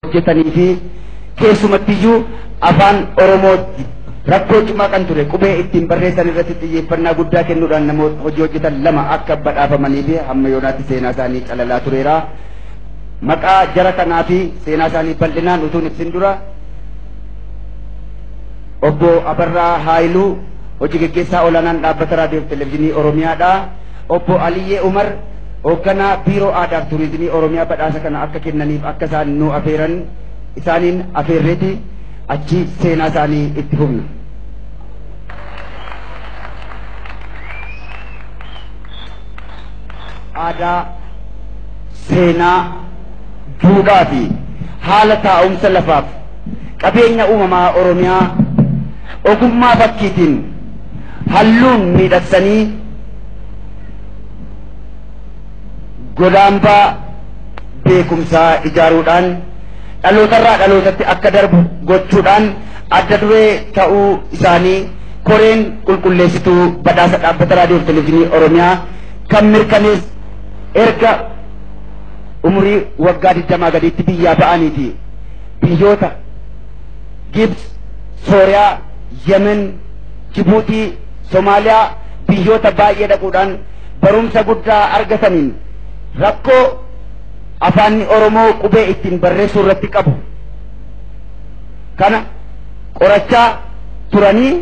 hojjetanii fi keessumattiyyuu afaan Oromoo rakkoo cimaa kan ture qubee ittiin barreessan irratti xiyyeeffannaa guddaa kennuudhaan namoota hojii hojjetan lama akka badhaafamanii fi hamma yoonaatti seenaa isaanii calalaa tureera. Maqaa jara kanaa fi seenaa isaanii bal'inaan utuun ibsin dura obbo Abarraa Haayiluu hojii gaggeessaa olaanaan dhaabbata raadiyoo fi televezyiinii Oromiyaadha. Obbo Aliyyee Umar Hoogganaa Biiroo Aadaaf Turizimii Oromiyaa badhaasa kana akka kennaniif akka isaan nu afeeran isaaniin afeerreeti achi seenaa isaanii itti fufna. Aadaa, seenaa, duudhaa fi haala taa'umsa lafaaf qabeenya uumamaa Oromiyaa ogummaa fakkiitiin halluun miidhagsanii godambaa beekumsaa ijaaruudhaan dhalootarraa dhalootatti akka darbu gochuudhaan adda duree ta'uu isaanii koreen qulqulleessituu badhaasa dhaabbata raadiyoo fi televezyiinii Oromiyaa kan mirkanees erga umurii waggaa 20 gadiitti biyyaa ba'aniiti biyyoota Gibs, Sooriyaa, Yemen, Jibuutii Somaaliyaa biyyoota baay'ee dhaquudhaan barumsa guddaa argataniin rakkoo afaanni Oromoo qubee ittiin barreessuu irratti qabu kana qorachaa turanii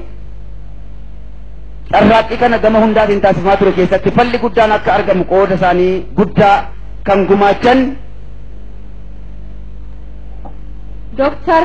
carraaqqii kana gama hundaatiin taasifamaa ture keessatti falli guddaan akka argamu qooda isaanii guddaa kan gumaachan Dooktar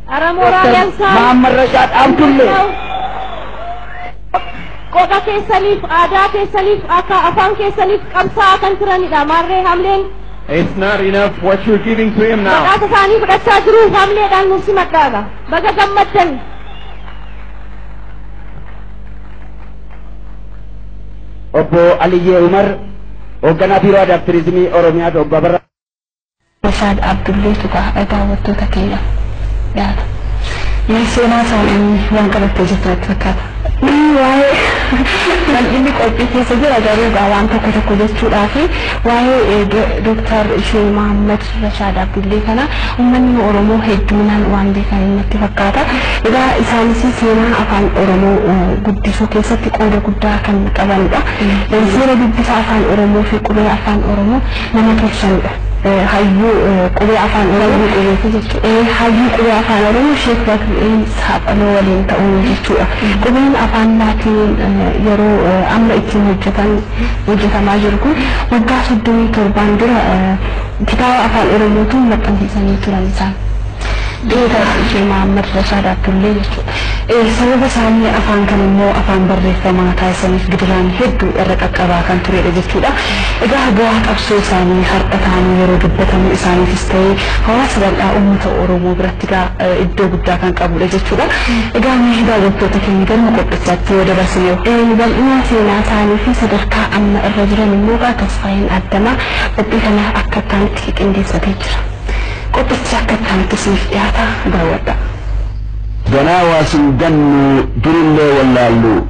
Ara Dr. Mooraalaan isaa Mahammad Rashaad Abdullee qoqa keessaniif aadaa keessaniif akka afaan keessaniif qabsaa'aa kan turanidha. Maarree hamleen It's not enough what you're giving to him now. maqaasa isaanii fudhachaa jiru hamleedhaan nuuf simadhaadha. Baga gammaddan. Obbo Aliyyee Umar, hoogganaa Biiroo Aadaa fi Turizimii Oromiyaati obbo Abarraa. Rashaad Abdulleetu gaafii daawwattoota keenyaaf dhiyaata. Mee seenaa isaanii waan qabattee jirtu natti fakkaata. Waa'ee bal'inni qophii keessa jira garuu gaa waan tokko tokko jechuudhaa fi waa'ee Dooktar Shee Mahaammad Rashaad Abdullee kana uummanni Oromoo hedduminaan waan beekan natti fakkaata. Egaa isaanis seenaa afaan Oromoo guddisuu keessatti qooda guddaa kan qabanidha. Seera dubbisa afaan Oromoo fi qubee afaan Oromoo nama keessanidha. Hayyuu qubee afaan Oromoo. Hayyuu qubeeti jechuudha. Ee, hayyuu qubee afaan Oromoo Sheek Bakri'eel Saaphaloo waliin ta'uun jechuudha. Qubeen afaan Laatiiniin eh, yeroo eh, amma ittiin hojjetan hojjetamaa jiru kun waggaa soddomii torbaan dura eh, kitaaba afaan Oromootiin maxxansiisanii turan isaan. Beekaa Sheek Mahammad Rashaad Abdullee jechuudha. Sababa isaanii afaan kana immoo afaan barreeffamaa taasisaniif gidiraan heddu irra qaqqabaa kan tureedha jechuudha. Egaa bu'aa qabsoo isaanii har'a taa'anii yeroo dubbatamu isaaniifis ta'ee hawaasa bal'aa uummata Oromoo biratti egaa iddoo guddaa kan qabuudha jechuudha. Egaa mee daawwattoota keenya galma qophichaatti yoo dabarsine hoo? Bal'ina seenaa isaanii fi sadarkaa amma irra jiran immoo egaa Tasfaayeen Addamaa qophii kana akka itti aanutti qiqindeessatee jira. Qophichi akka itti aanutti isiniif dhiyaata daawwadhaa. Ganaa waa sin gannuu durullee wallaalluu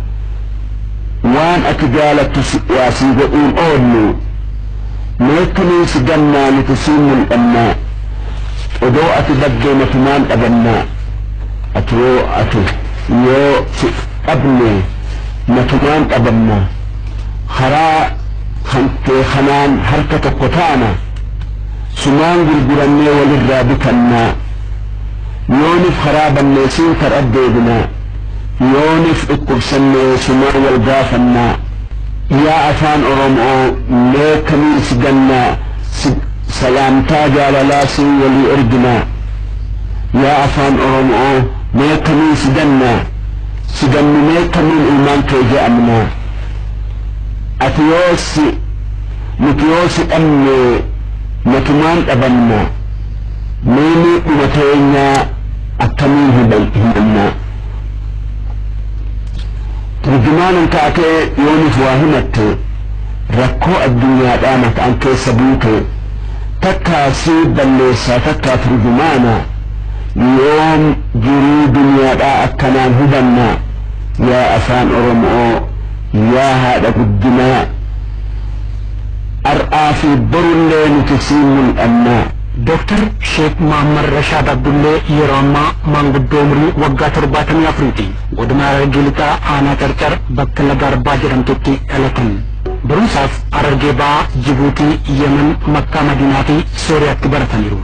Waan ati jaalattu si waa sii godhuun oolluu Meetti nuyi si gannaa nuti siin mul'annaa Odoo ati baddee matumaan dhabannaa Ati yoo ati yoo si dhabnee matumaan dhabannaa Karaa kan kee kanaan harka tokko taana Sumaan gurgurannee walirraa bitannaa Yoonif karaa balleessin kar'a deebina, yoonif dhukkubsanne sumaa wal gaafanna, yaa afaan oromoo mee kamiin si ganna si salaamtaa jaalalaa siin walii ergina, yaa afaan oromoo mee kamiin si ganna si ganninee kamiin ilmaan kee ja'amna, ati yoo si nuti yoo si dhabne matumaan dhabamna. Mee miidhuma keenya akkamiin himanna? Turjumaanan taatee yoo nuuf waa himatte rakkoo addunyaadhaa maqaan keessa buute takkaa si balleessaa takkaa turjumaana yoom jiruu duniyaadhaa akkanaan hubanna yaa afaan oromoo yaa haadha guddinaa Har'aa fi borullee nuti siin mul'anna. Dr. Sheek Muhammad Rashaad Abdullee yeroo ammaa maanguddoo umurii waggaa 74ti. Godina Harargee Lixaa Aanaa Carcar bakka Laga Arbaa jedhamtutti dhalatan. Barumsaaf Harargee Bahaa, Jibuutii, Yemen, Makkaa Madiinaa fi Sooriyaatti barataniiru.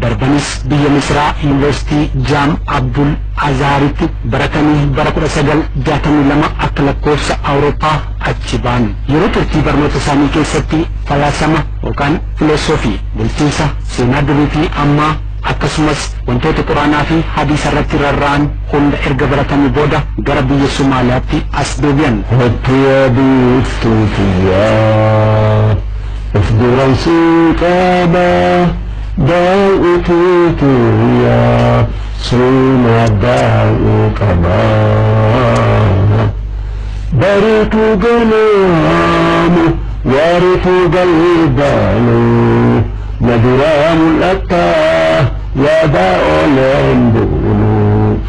Darbanis biyya Misraa Yuunivarsiitii Jaam Abdul Azaharitti baratanii bara 1962 akka lakkoofsa Awurooppaa achi ba'an. Yeroo turtii barnoota isaanii keessatti falaasama yookaan filosoofii, bulchiinsa, seenaa durii fi ammaa, akkasumas wantoota Qur'aanaa fi Hadiisa irratti rarra'an hunda erga baratanii booda gara biyya Somaaliyaatti as deebi'an. Kottu yaa biiftuu tiyya of duran si qaba daaw'ii tiyya sumaa daaw'uu qaba. Bariitu ganaama waaritu galgala na duraa mul'atta yaadaa ooleen bulu.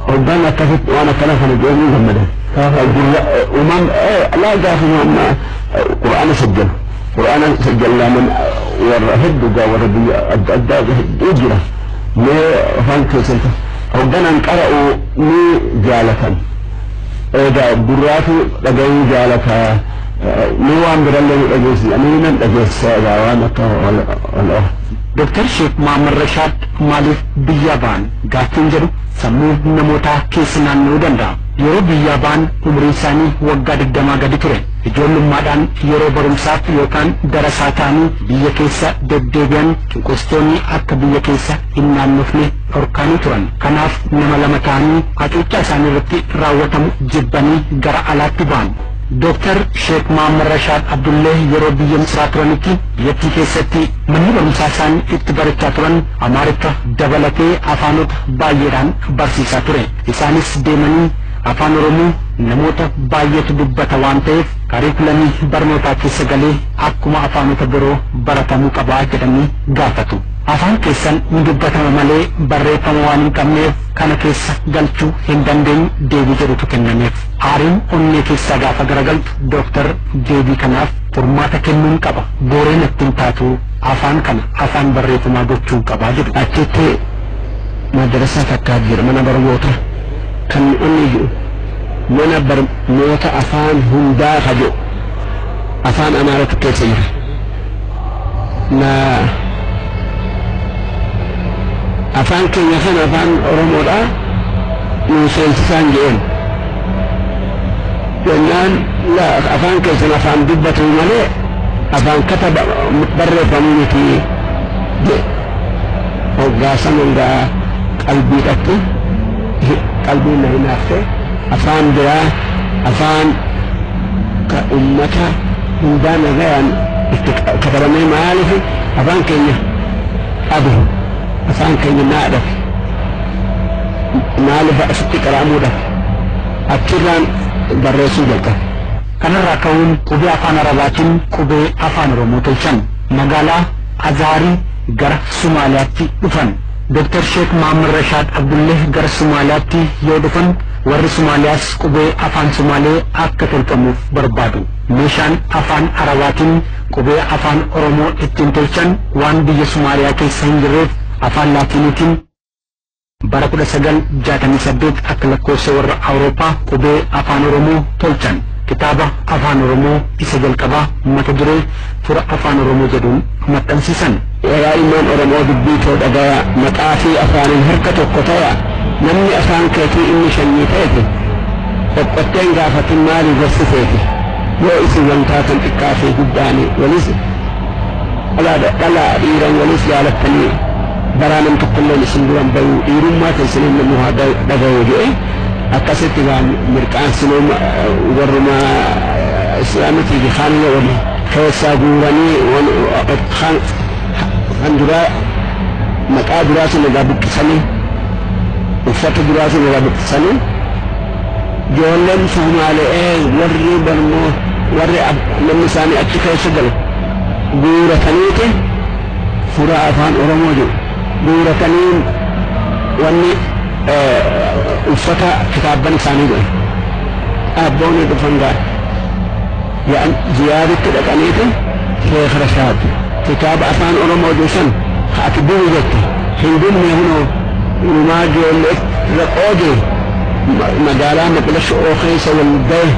Hoggaan akkasitti waan akkana kana jedhee ni gammada. Uumam laa gaafa amma Qur'aana sajjalu. Qur'aana sajjallaaman warra hedduu gaa warra biyya adda addaa hedduu jira. Mee afaan keessan hogganaan qara'u ni jaalatan. Egaa gurraatu dhagayuu jaalata mee waan birallee nu dhageessisa ani nan dhageessisa egaa waan akka wal'oo. Doktar Sheek Muhammad Rashaad maaliif biyyaa ba'an gaaffiin jedhu sammuu namootaa keessa naanna'uu danda'a. Yeroo biyyaa ba'an umriin isaanii waggaa digdamaa gadi ture. Ijoollummaadhaan yeroo barumsaaf yookaan darasaa ta'anii biyya keessa deddeebi'an cunqursitoonni akka biyya keessa hin naannofne dhorkaanii turan. Kanaaf nama lama ta'anii hacuuccaa isaanii irratti raawwatamu jibbanii gara alaatti bahan. Dooktar Sheek Mohammad Rashaad Abdulleeh yeroo biyya Misraa turanitti biyyattii keessatti manni barumsaa isaan itti barachaa turan Amaariffa dabalatee afaanota baay'eedhaan barsiisaa ture. Isaanis deemanii Afaan Oromoo namoota baay'eetu dubbata waan ta'eef kariikulamii barnootaa keessa galee akkuma afaanota biroo baratamuu qaba jedhanii gaafatu. Afaan keessan ni dubbatama malee barreeffama waan hin qabneef kana keessa galchuu hin dandeenyu deebii jedhutu kennameef. Aariin onnee keessaa gaafa garagaltu Doktar deebii kanaaf furmaata kennuun qaba. Booree natti hin taatu afaan kana afaan barreeffamaa gochuun qaba jedhu. Achitti madrasaa takkaatu jira mana barmoota kan onnee jedhu mana barmoota afaan hundaa ka jedhu afaan amaaratu keessa jira. na afaan keenya kan afaan oromoodha nu seensisaan jedheen jennaan la afaan keessan afaan dubbatu malee afaan kata barreeffamu miti jedhe hoggaasan hundaa qalbiidhatti qalbii na hinaafte afaan biraa afaan ka ummata hundaa nagayaan itti katabamee maaliif afaan keenya dhabe afaan keenya naa dhabe maaliif asitti qaraamuu dhabe achirraan barreessuu jalqabe. Kanarraa ka'uun qubee afaan Arabaatiin qubee afaan Oromoo tolchan. Magaalaa Azaarii gara Sumaaliyaatti dhufan. Doktar Sheek Mahammad Rashaad Abdullee gara Sumaaliyaatti yoo dhufan Warri Somaaliyaas qubee afaan Somaalee akka tolfamuuf barbaadu. Meeshaan afaan Arabaatiin qubee afaan Oromoo ittiin tolchan waan biyya Somaaliyaa keessa hin jirreef afaan Laatiiniitiin, Bara 1968 akka lakkoofsa warra Awurooppaa qubee afaan Oromoo tolchan. Kitaaba afaan Oromoo isa jalqabaa mata duree Fura Afaan Oromoo jedhuun maxxansiisan. Egaa ilmaan Oromoo dubbii too dhagayaa, maqaa fi afaaniin harka tokko tayaa, namni afaan keetii inni shanyii teeti qoqqottee hin gaafatin maalii gorsi teeti yoo isin wan taatan xiqqaa fi guddaani walis dhalaa dhalaa dhiiran walis jaalattanii baraa nam tokkolleen isin duran bayuu dhiirummaa keessaniin namuu haa dhagayuu je'e akkasitti waan mirqaansinuu warrumaa islaamitii fi kaanuma wali keessaa guuranii Kan kan duraa maqaa duraa sana irraa buqqisanii uffata duraa sana irraa buqqisanii ijoolleen Somaali'ee warri barmoo warri ab- namni isaanii achi keessa galu guurataniiti suuraa afaan Oromoo jiru guuratanii wanni eh, uffata kitaabban isaanii godhe abboonni dhufan gaara Ya'an ziyaaritti dhaqaniiti Sheekh Rashaad kitaaba Afaan Oromoo jiru san ka ati duri jette hin gubne kunoo inumaa joollee irra qoode magaalaa Maqdasho'oo keessa wal gaye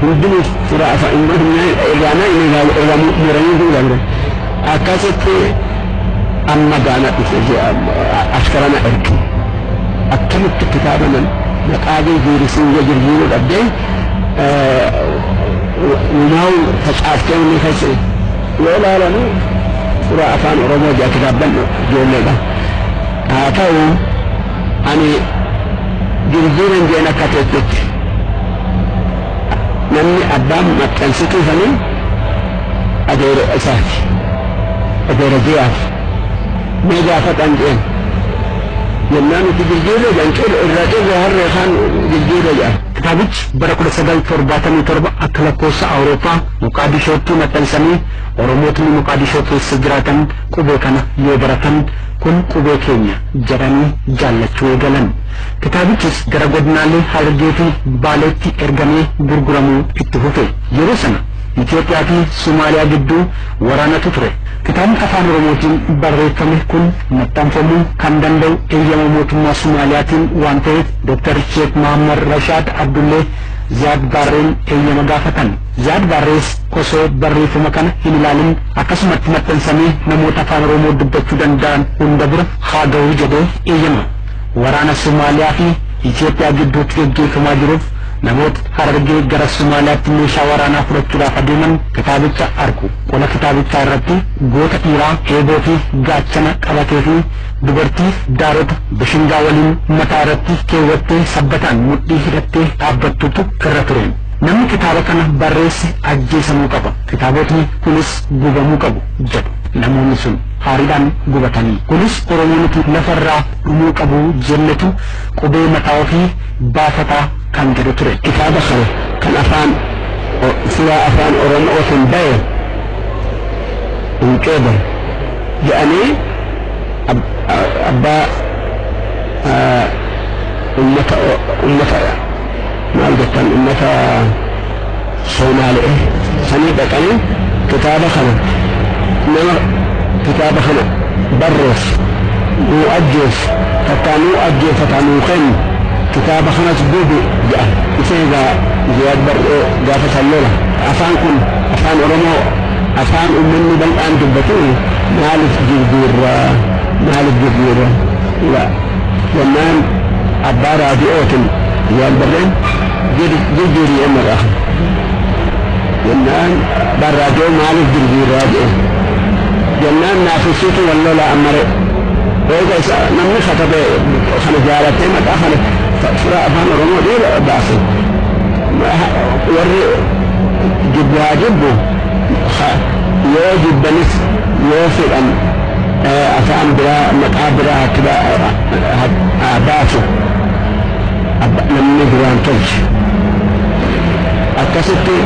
hundinuu irraa nayne irraa muranii duulan akkasitti amma gaana dhufe askara na erge akkamitti kitaaba nan maqaa jijjiirisiin yoo jirjiiruu dhabdee uumaa'u facaafte inni keessa yoo ilaalamu suuraa afaan oromoo jaa kitaabban ijoolleedha haa ta'u ani jirjiiran jeen akka teettetti namni abbaan maxxansituu sanii adeera isaati adeera jiyaati mee gaafatan jeen jennaan itti jirjiirre jan irra cirre harree kaan jirjiirre jaa Kitaabichi bara 1977 akka lakkoofsa Awurooppaa Moqaadishootti maxxansamee Oromootni Moqaadishoo keessa jiraatan qubee kana yoo baratan kun qubee keenya jedhanii jaallachuu eegalan. Kitaabichis gara godinaalee Harargee fi Baaleetti ergamee gurguramuu itti fufe. Yeroo sana Itoophiyaa fi Somaaliyaa gidduu waraanatu ture. Kitaabni Afaan Oromootiin barreeffame kun maxxanfamuu kan danda'u eeyyama mootummaa Somaaliyaatiin waan ta'eef Doktar Sheek Mohammad Rashaad Abdullee Ziyaad Baarreen eeyyama gaafatan. Ziyaad Baarrees osoo barreeffama kana hin ilaalin akkasumatti maxxansamee namoota Afaan Oromoo dubbachuu danda'an hunda bira haa gahu jedhee eeyyama. Waraana Somaaliyaa fi Itoophiyaa gidduutti gaggeeffamaa jiruuf namoota Harargee gara Somaaliyaatti meeshaa waraanaa fudhachuudhaaf adeeman kitaabicha argu. Qola kitaabichaa irratti goota dhiiraa eeboo fi gaachana qabatee fi Dubartii daarota bishingaa waliin mataa irratti keewwattee sabbataan mudhii hidhattee dhaabbattutu irra ture. Namni kitaaba kana barreesse ajjeesamuu qaba. Kitaabotni kunis gubamuu qabu jedhu namoonni sun haariidhaan gubatanii. Kunis Oromoo nuti lafarraa dhumuu qabu jennetu qubee mataa ofii baafataa kan jedhu ture. Kitaaba kana kan afaan silaa afaan Oromootiin bahe hin qeebalu jedhanii abbaa ummata ummata maal jettan ummata soomaali'e sanii dhaqanii kitaaba kana nama kitaaba kana barrees nuu ajjees takkaa nuu ajjeefataa nuu kennu kitaaba kanas gubi jedhan isee egaa ziyaad barree gaafa san lola afaan kun afaan oromoo Afaan ummanni bal'aan dubbatu maalif jijjiirra? Maalif jijjiirra? La jennaan abbaa raadi'ootin yoon barreen jijjiiri jenna gaa. Jennaan abbaan raadi'oo maalif jijjiirra jedheen. Jennaan naaf ibsiitu wal lolaa ammare. Eega isa namni katabe kana jaalatee maqaa kana fira afaan oromoo dhiira baase. Warri jibbu haa jibbu, ha, yoo jibbanis yoo fedhan afaan biraa maqaa biraa haa itti ba, ha, haa baasu abba, namni duraan tolche akkasitti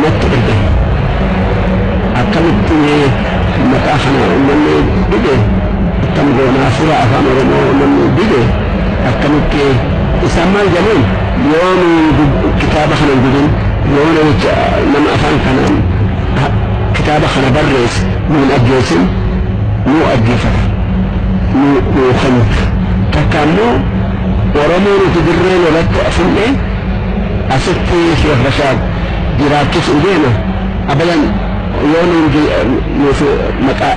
natti erge akkamitti mee maqaa kana uummanni dide akkam goonaa fura afaan oromoo namni dide akkamitti isaan maal jedhaniin? Yoona kitaaba kana hin didin, yoona jecha nama afaan kanaan kitaaba kana barreesse nu hin ajjeesin, nu ajjeefata, nu nu kennita. Takka ammoo Oromoo nuti dirree lolatti fudhne asitti Sheekh Rashaad jiraachisuuf deema abadan yoo nuuf maqaa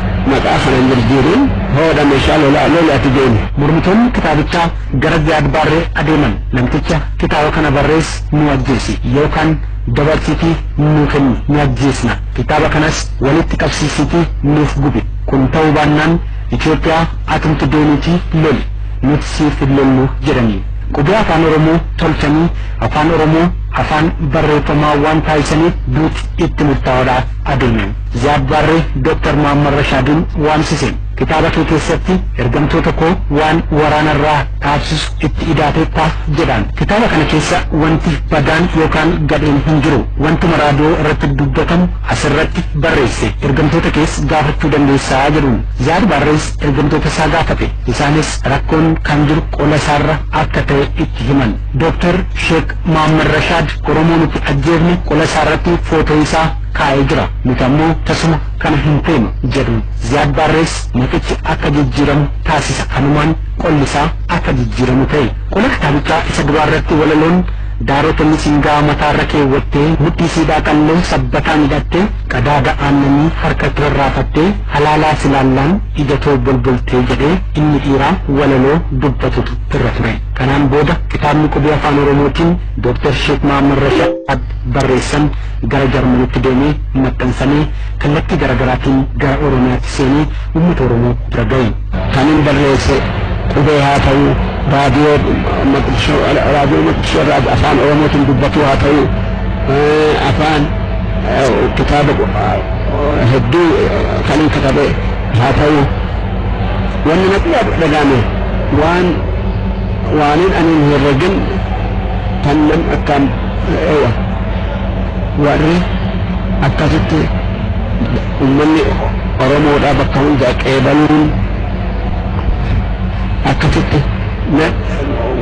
kana hin jijjiirin hoodha meeshaa lolaa loli ati deemi. Mormitoonni kitaabichaa gara Ziyaad Baarree adeeman namticha kitaaba kana barrees nuu ajjeesi yookaan dabarsiitii nuu kenni ni ajjeesna kitaaba kanas walitti qabsiisiitii nuuf gubi kun ta'uu baannaan Itoophiyaa atumti deemiitii loli nuti siif hin lollu jedhanii qubee afaan oromoo tolchanii afaan oromoo afaan barreeffamaa waan taasisaniif duuti itti murtaa'oodhaaf adeeme Ziyaad Baarree Dr. Muhammad Rashaadiin waamsise. Kitaaba kee keessatti ergamtoota koo waan waraana irraa dhaabsisu itti idaateetta jedhaan. Kitaaba kana keessa wanti badaan yookaan gadheen hin jiru. Wantuma raadiyoo irratti dubbatamu as irratti barreesse. Ergamtoota kees gaafachuu dandeessa jedhuun. Ziyaad Baarrees ergamtoota isaa gaafate. Isaanis rakkoon kan jiru qola isaa irra akka ta'e itti himan. Dr. Sheek Mohammad Rashaad Oromoo nuti ajjeefne qola isaa irratti footoo isaa kaa'ee jira. Nuti ammoo tasuma kana hin feenu jedhu Ziyaad Baarrees maqichi akka jijjiiramu taasisa kanumaan qolli isaa akka jijjiiramu ta'e qola kitaabichaa isa duraa irratti walaloon daarota misingaa mataarra keewwattee mudhii siidhaa qalloo sabbataan hidhattee qadaada aannanii harkatti rarraafattee halaalaa silaallaan ija too bolboltee jedhee inni dhiiraa walaloo dubbatutu irra ture kanaan booda kitaabni qubee afaan oromootiin dooktar sheek mahammad rashaad barreessan gara Jarmanitti deemee maxxansamee kallattii garagaraatiin gara Oromiyaatti seenee uummata Oromoo bira gahe. Kanin barreesse qubee haa ta'u, raadiyoo Maqdishoo raadiyoo Maqdishoo irraa afaan Oromootiin dubbatuu haa ta'u, afaan kitaaba hedduu kanin katabe haa ta'u, wanni natti dhaga'ame waan waanin ani hin herregin kan nam akkaan ewa. warri akkasitti ummanni Oromoodhaa bakka hundaa qeebaluun akkasitti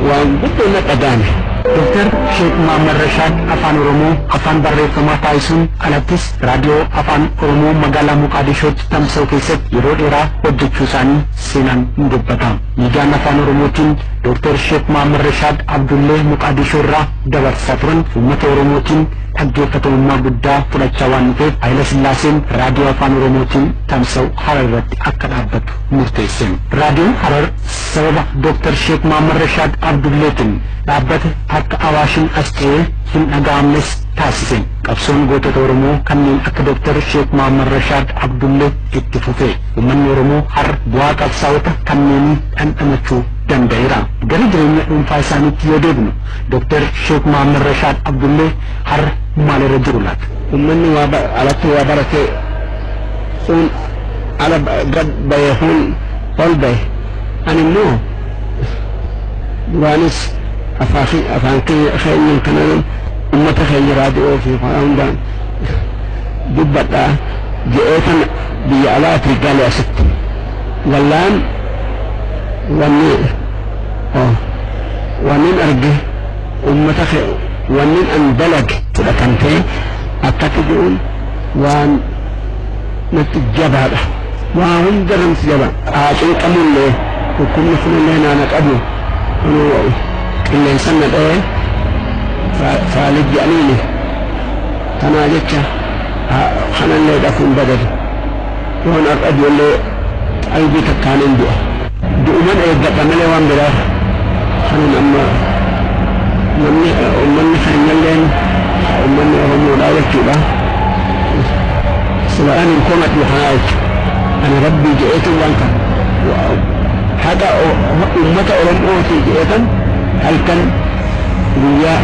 waan guddoo na dhagaame. Dooktar Sheek Muhammad Rashaad Afaan Oromoo afaan barreeffamaa taasisuun alattis raadiyoo Afaan Oromoo magaalaa Moqaadishootti tamsa'u keessatti yeroo dheeraa hojjechuu isaanii seenaan ni dubbata. Miidiyaan Afaan Oromootiin Dooktar Sheek Muhammad Rashaad Abdullee Moqaadishoo irraa dabarsaa turan uummata Oromootiin dhaggeeffatamummaa guddaa fudhachaa waan dhufeef Hayilasillaaseen Raadiyoo Afaan Oromootiin tamsa'u Harar irratti akka dhaabbatu murteesse. Raadiyoon Harar sababa Dooktar Sheek Mahammad Rashaad Abdulleetiin dhaabbate akka Awaashin as ce'ee hin dhaga'amnes taasise. Qabsoon gootota Oromoo kanneen akka Dooktar Sheek Mahammad Rashaad Abdullee itti fufe. Uummanni Oromoo har bu'aa qabsaa'ota kanneenii dhandhamachuu danda'eera. Gara jireenya dhuunfaa isaaniitti yoo deebinu Dr. Sheek Muhammad Rashaad Abdullee har'a maalirra jiru laata? Ummanni waa ba- alatti waa barate uun ala ba- gad bahe uun ol bahe ani immoo duraanis afaa ke- afaan keenya keenyaan kanaan ummata keenya raadiyoo fi waan hundaan dubbadhaa jedhee kan biyya alaatii gale asitti gallaan wanni Wannin arge ummata kee wannin an dalage fudhatamtee akkatti je'uun waan natti jabaadha. Waa hunda irratti jaba. Qaacee qabullee dhukkubni kunillee naana qabu kunoo qilleensan na dha'ee faalid jedhaniini. Kanaa jecha kanallee dhakuun badadu. Yoon har'a du'ellee qalbii takkaan hin du'a. Du'uman eeggadha malee waan biraa kanan amma namni ummanni keenyalleen ummanni Oromoodhaa jechuudha sila kan hin komadhu kanaa jechu ani rabbii je'eetin waan kana haqa ummata Oromootii je'eetan halkan guyyaa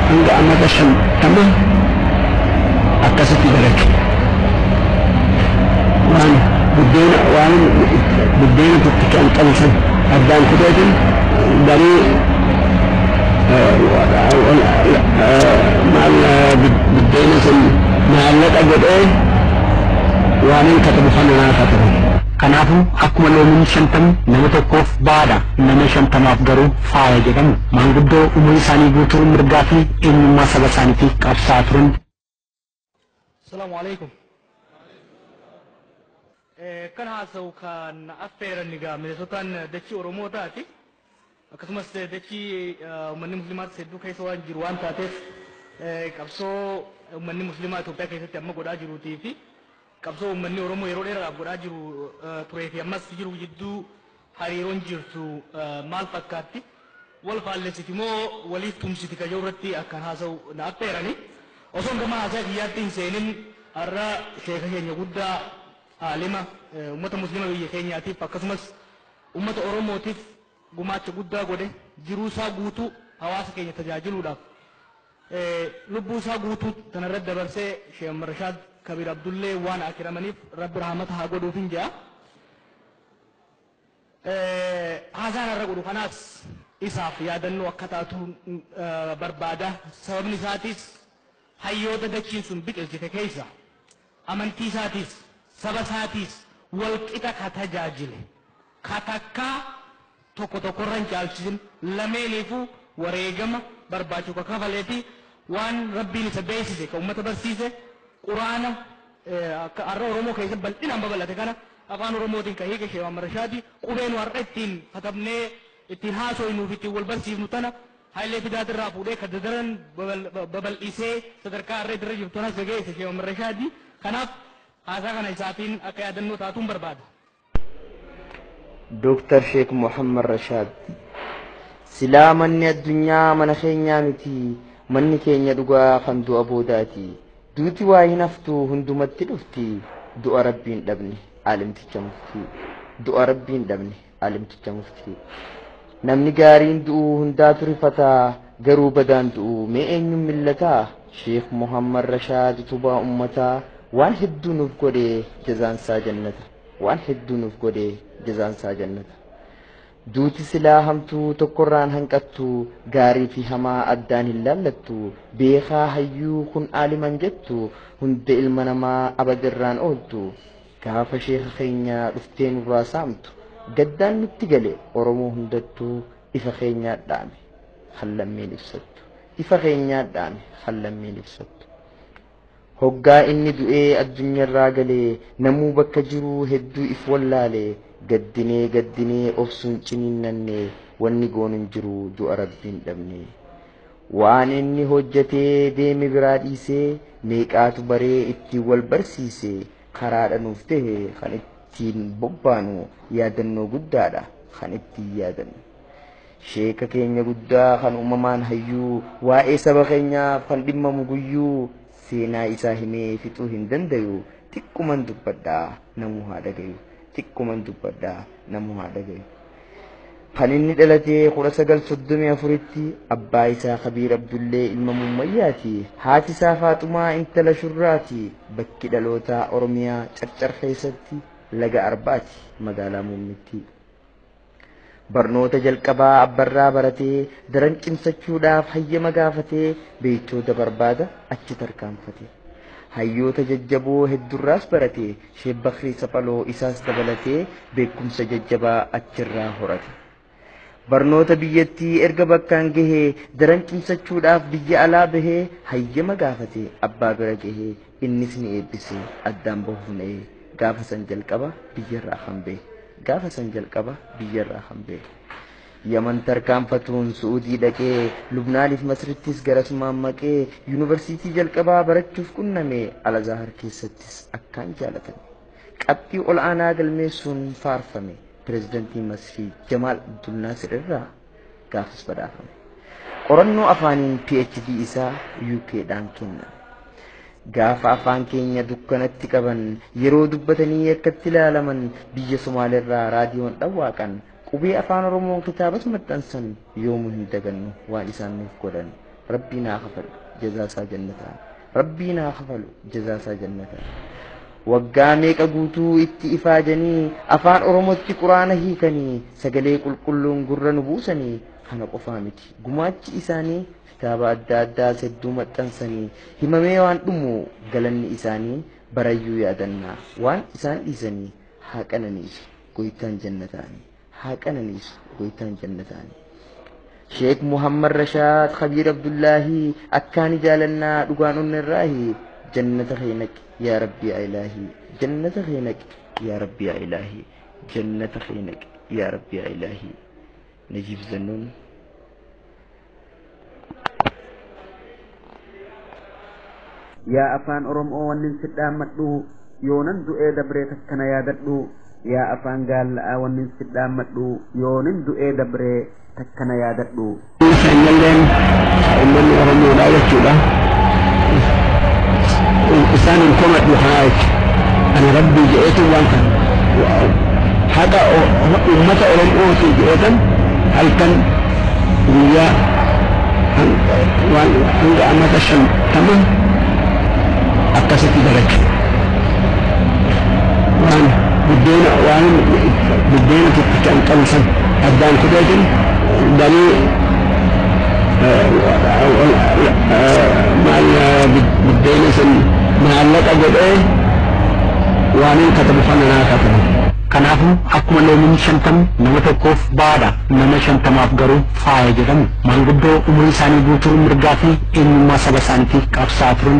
hanga amata shantama akkasitti dalage. Waan buddeena waan buddeena tokkicha an qabu san addaan kuteetiin garuu maal buddeena sun maallaqa godhee waan hin katabu kana naa katabe. Kanaafuu akkuma loomiin shantamni nama tokkoof baadha nama shantamaaf garuu Faaya jedhamu. Maanguddoo umurii isaanii guutuu mirgaa fi eenyummaa saba isaaniitiif qabsaa'aa turan. Salaamu Alaikum. Kan haasa'u kan affeeran egaa Mineesotaan dachii Oromootaati. Akkasumas dachii uummanni Musliimaas hedduu keessa waan jiru waan taateef qabsoo uummanni Musliimaa Itoophiyaa keessatti amma godhaa jiruutii fi Qabsoo uummanni Oromoo yeroo dheeraadhaaf godhaa jiru turee fi ammas jiru jidduu hariiroon jirtu maal fakkaatti? Wal faallessiti moo waliif tumsiti ka jedhu irratti akkan haasa'u na affeerani. Osoon gama haasaa kiyyaatti hin seenin har'a sheeka keenya guddaa aalima uummata muslima biyya keenyaatiif akkasumas uummata Oromootiif gumaacha guddaa godhe jiruu isaa guutuu hawaasa keenya tajaajiluudhaaf Lubbuu isaa guutuu tana irratti dabarsee Sheikh Muhammad Rashaad Kabiir Abdullee waan akiramaniif Rabbi rahmata haa godhuufin jedha. Haasaan har'a godhu kanaas isaaf yaadannoo akka taatu barbaada. Sababni isaatis hayyoota dachiin sun biqilchite keessa amantii isaatis saba isaatis wal qixa ka tajaajile ka takkaa tokko tokko irra hin caalchisin, lameeniifuu wareegama barbaachisu ka kafalee fi waan Rabbiin isa beeksise ka ummata barsiise, Qur'aana akka har'a Oromoo keessatti bal'inaan babal'ate kana Afaan Oromootiin ka hiike Sheikh Muhammad Rashaadi, qubee nu har'a ittiin katabnee ittiin haasoynuu fi ittiin wal barsiifnu tana Hayilee Fidaat irraa fuudhee ka dadaran babal'isee sadarkaa har'a itti irra jirtu tanas ka geesse Sheikh Muhammad Rashaadi. Kanaaf haasaa kana isaatiin akka yaadannoo taatuun barbaada. Dooktar Sheek Muhammad Rashaad. Silaa manni addunyaa mana keenyaa miti, manni keenya dhugaa kan du'a boodaati. Duuti waa hin haftu hundumatti dhufti, du'a rabbiin dhabne alimticha muftii. Du'a rabbiin dhabne alimticha muftii. Namni gaariin du'u hundaatu rifata garuu badaan du'u mee eenyuun millata Sheikh Muhammad Rashaad utubaa ummataa waan hedduu nuuf godhe jazaan isaa jannata waan hedduu nuuf godhe jazaan isaa jannata duuti silaa hamtuu tokkorraan hanqattu gaarii fi hamaa addaan hin laallattu beekaa hayyuu kun aaliman jettu hunda ilma namaa abadirraan ooltu Gaafa sheeka keenya dhuftee nurraa saamtu gaddaan nutti gale Oromoo hundattuu ifa keenyaa dhaame kan lammiin ibsattu ifa keenyaa dhaame kan lammiin ibsattu. Hoggaa inni du'ee addunyarraa gale namuu bakka jiruu hedduu if wallaale gaddinee gaddinee obsuun ciniinnanne wanni goonu hin jiru du'a rabbiin dhabne. Waan inni hojjatee deeme biraa dhiisee meeqaatu baree ittiin wal barsiise karaadha nuuf ta'e kan ittiin bobbaanu yaadannoo guddaadha kan ittiin yaadannu. Sheeka keenya guddaa kan uumamaan hayyuu waa'ee saba keenyaaf kan dhimmamu guyyuu seenaa isaa himee fixuu hin dandayu xiqquman dubbadhaa namuu haa dhagayu xiqquman dubbadhaa namuu haa dhagayu. kan inni dhalatee 1934tti abbaa isaa kabiir abdullee ilma mummayyaati haati isaa faaxumaa intala shurraati bakki dhalootaa oromiyaa carcar keessatti laga arbaati magaalaa muummittii barnoota jalqabaa abbarraa baratee daran cimsachuudhaaf hayyama gaafatee beeytoota barbaada achi tarkaanfate hayyoota jajjaboo heddurraas barate Sheek Bakrii Saphaloo isaas dabalatee beekumsa jajjabaa achirraa horate. Barnoota biyyattii erga bakkaan gahee daran cimsachuudhaaf biyya alaa bahee hayyama gaafate abbaa bira gahee innis ni eebbise addaan bahuun ee gaafa san jalqaba biyyarraa kan bahe gaafa san jalqaba biyyarraa kan bahe. Yaman tarkaanfatuun Su'uudii dhaqee, Lubnaaniif Masrittis garasumaan maqee, Yuunivarsiitii jalqabaa barachuuf qunname Al-Azahar keessattis akkaan jaalatame. Qabxii ol'aanaa galmeessuun faarfame. Pirezidantii Masrii Jamaal Abdul Naasir irraa gaafas badhaafame. Qorannoo afaaniin PhD isaa UK dhaan kenname. Gaafa afaan keenya dukkanatti qaban, yeroo dubbatanii akkatti ilaalaman, biyya Somaalirraa raadiyoon dhawwaaqan Qubee afaan oromoo kitaabas maxxansan yoomu hin dagannu waan isaan nuuf godhan rabbiin haa kafalu jazaa isaa jannataa rabbiin haa kafalu jazaa isaa jannataa waggaa meeqa guutuu itti ifaajanii afaan oromootti quraana hiikanii sagalee qulqulluun gurra nu buusanii kana qofaa miti gumaachi isaanii kitaaba adda addaas hedduu maxxansanii himamee waan dhumu galanni isaanii barayyuu yaadannaa waan isaan dhiisanii haa qananiisu goytaan jannataani haa qananiisu goytaan jannataani Sheek Muhammad Rashaad Khabiir Abdullaahi akkaani jaalannaa dhugaan onnerraahi jannata kee naqi yaa rabbii yaa ilaahi jannata kee naqi yaa rabbii yaa ilaahi jannata kee naqi yaa rabbii yaa ilaahi Najiib Zannuun yaa afaan oromoo wannin sidhaammadhu yoonan du'ee dabree takkana yaadadhu yaa afaan gaalla'aa wannin sidhaammadhu yoonin du'ee dabree takkana yaadadhu keenyalleen uummanni oromoodha jechuudha isaan hin komadhu kanaa jechu ana rabbii jedheetu waan kan haqa uummata oromootii jedheetan halkan guyyaa hanga amata shantama akkasitti dalaga. Waan buddeena waan buddeena tokkicha hin qabu san addaan kuteetiin galii maal buddeena san maallaqa godhee waan hin katabu kana naa katabu. Kanaafuu akkuma loomiin shantam nama tokkoof ba'aadha nama shantamaaf garuu faaya jedhamu. Maanguddoo umurii isaanii guutuu mirgaa fi eenyummaa saba isaaniitiif qabsaa'aa turan.